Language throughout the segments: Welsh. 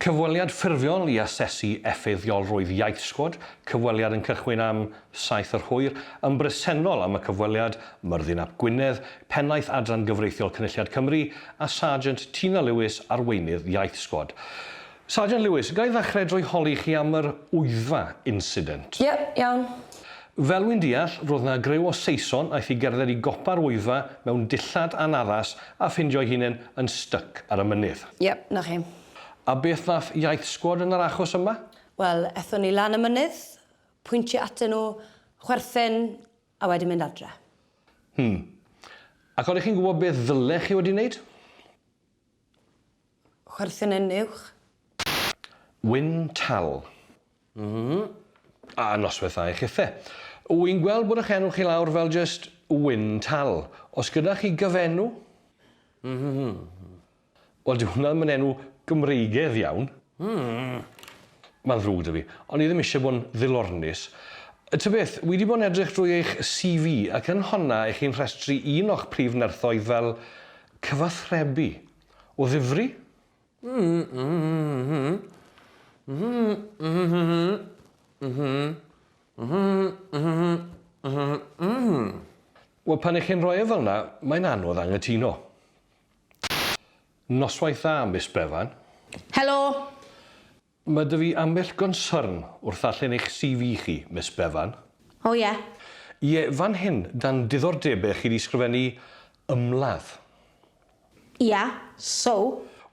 Cyfweliad ffurfiol i asesu effeithiolrwydd iaith Sgwad cyfweliad yn cychwyn am saith yr hwyr. Yn bresennol am y cyfweliad, Myrddin ap Gwynedd, Pennaeth Adran Gyfreithiol Cynulliad Cymru, a Sarjant Tina Lewis, Arweinydd Iaith Sgwad. Sarjant Lewis, ga i ddechrau drwy holi chi am yr Wyddfa incident? Ie, iawn. Fel wi'n deall, ro'dd 'na griw o Saeson aeth i gerdded i gopa'r Wyddfa mewn dillad anaddas a ffindio'i hunen yn styc ar y mynydd. Yep, 'na chi. A beth nath Iaith Sgwad yn yr achos yma? Wel, ethon ni lan y mynydd, pwyntio atyn nhw, chwerthin, a wedyn mynd adre. Hmm. Ac odych chi'n gwbod beth ddylech chi wedi neud? Chwerthin yn uwch. Wyn Tal. A noswaith dda i chithe. Wy'n gweld bod ych enw chi lawr fel jyst Wyn Tal. Os gyda chi gyfenw? Wel dyw hwnna ddim yn enw Gymreigedd iawn. Mae'n ddrwg 'da fi. O'n i ddim eisiau bod yn ddilornus. Ta beth, wi 'di bod yn edrych drwy eich CV ac yn honna 'ych chi'n rhestru un o'ch prif nerthoedd fel cyfathrebu. O ddifri? Wel pan i chi'n rhoi e fel 'na, mae'n anodd anghytuno. Noswaith dda Miss Bevan. Helo! Mae 'da fi ambell gonsyrn wrth ddarllen eich CV chi, Miss Bevan. O ie. Ie, fan hyn, dan diddordebau chi 'di sgrifennu 'ymladd'. Ia, so?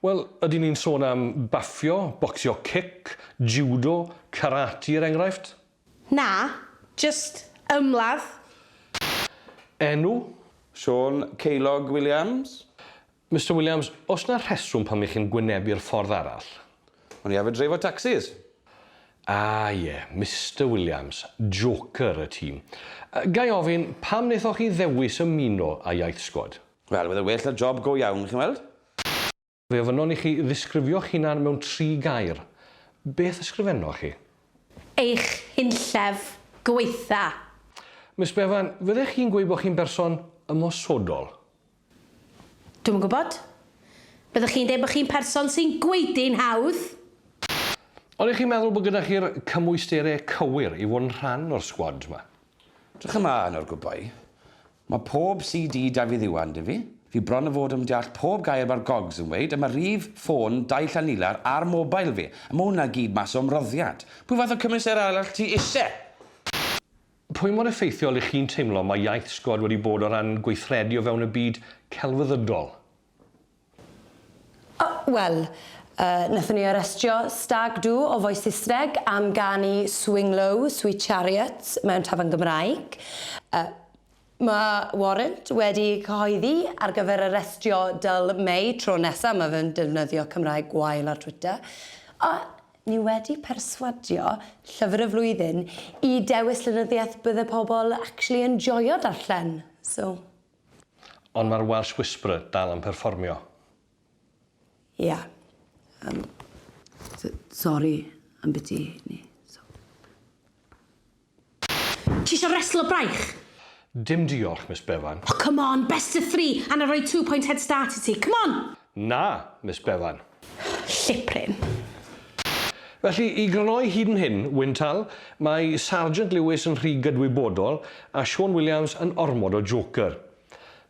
Wel, ydyn ni'n sôn am baffio, bocsio cic, jiwdo, karate er enghraifft? Na, jyst 'ymladd'. Enw? Siôn Ceiliog Williams. Mister Williams, oes 'na rheswm pam 'ych chi'n gwynebu'r ffordd arall? O'n i arfer dreifo tacsis. Ah ie, Mister Williams, joker y tîm. Ga i ofyn, pam wnaethoch chi ddewis ymuno â Iaith Sgwad? Wel, fydde well 'na job go iawn, chi'n weld. Fe ofynnon i chi ddisgrifio'ch hunan mewn tri gair. Beth ysgrifennoch chi? Eich hunllef gwaetha. Miss Bevan, fyddech chi'n gweud bod chi'n berson ymosodol? Dwi'm yn gwybod. Byddech chi'n deud bod chi'n person sy'n gwaedu'n hawdd? Ydych chi'n meddwl bod gyda chi'r cymwysterau cywir i fod yn rhan o'r sgwad 'ma? Drych ymlaen ar gwbau. Mae pob CD Dafydd Iwan 'da fi. Fi bron o fod yn deall pob gair mae'r gogs yn weud, a mae rhif ffôn dau llanilar ar mobile fi, a mae hwnna gyd mas o ymroddiad. Pwy fath o cymwysterau arall ti isie? Pwy mor effeithiol y'ch chi'n teimlo mae iaith sgwad wedi bod o ran gweithredu o fewn y byd celfyddydol? O, wel, yy, nathon ni arestio Stag Do o Voice Saesneg am ganu Swing Low, Sweet Chariot mewn tafarn Gymraeg. Yy. Mae warrant wedi ei chyhoeddi ar gyfer arestio Dyl May tro nesaf mae fe'n defnyddio Cymraeg gwael ar Twitter. A ni wedi perswadio Llyfr y Flwyddyn i dewis llenyddiaeth bydde pobl actually yn joio darllen. So. Ond mae'r Welsh Whisperer dal yn perfformio. Ia. Yym. S- sori ambiti hynny. So. Ti isio reslo braich? Dim diolch, Miss Bevan. Oh, come on, best of three, a na roi two point head start i ti. Come on! Na, Miss Bevan. Llipryn. Felly, i grynhoi hyd yn hyn, Wyntal, mae Sargeant Lewis yn rhy gydwybodol a Siôn Williams yn ormod o joker.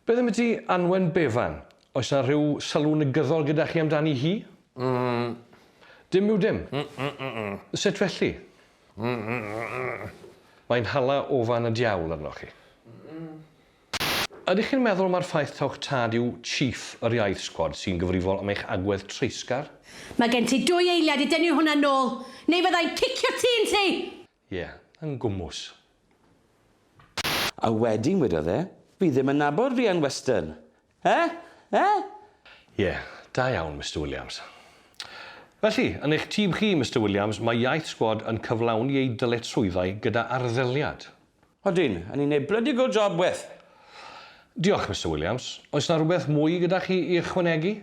Beth ambyti Anwen Bevan? Oes 'na rhyw sylw negyddol gyda chi amdani hi? Mm. Dim yw dim. Mm-mm-mm. Sut felly? Mae'n hala ofan y diawl arnoch chi. Ydych chi'n meddwl mai'r ffaith taw'ch tad yw Chief yr Iaith Sgwad sy'n gyfrifol am eich agwedd treisgar? Mae gen ti dwy eiliad i dynnu hwnna nôl, neu fydda i'n cicio ti yn lle! Ie, yn gwmws. A wedyn wedodd e, Fi ddim yn nabod Rhian Weston! Eh? Eh? Ie, da iawn, Mister Williams. Felly, yn eich tîm chi, Mister Williams, mae Iaith Sgwad yn cyflawni eu dyletswyddau gyda arddeliad. Ydyn, a ni'n neud blydi good job, Weth. Diolch, Mister Williams. Oes 'na rywbeth mwy gyda chi i ychwanegu?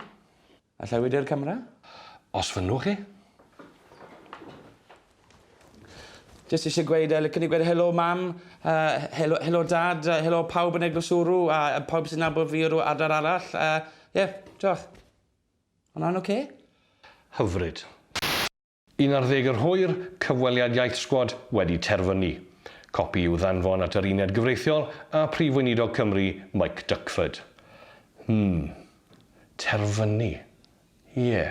Alla i wydio'r camera? Os fynnwch chi. Jyst eisiau gweud, uh, licen i gweud helo mam, uh, helo, helo dad, uh, helo pawb yn Eglwys Wrw, a uh, pawb sy'n nabod fi o'r adar arall. Ie, uh, yeah, diolch. Hwna'n oce? Okay? Hyfryd. Yn ar ddeg yr hwyr, cyfweliad Iaith Sgwad wedi terfynu. Copi i'w ddanfon at yr Uned Gyfreithiol a Phrif Weinidog Cymru, Mike Duckford. Hmm. Terfynu. Ie.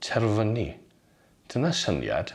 Terfynu. Dyna syniad.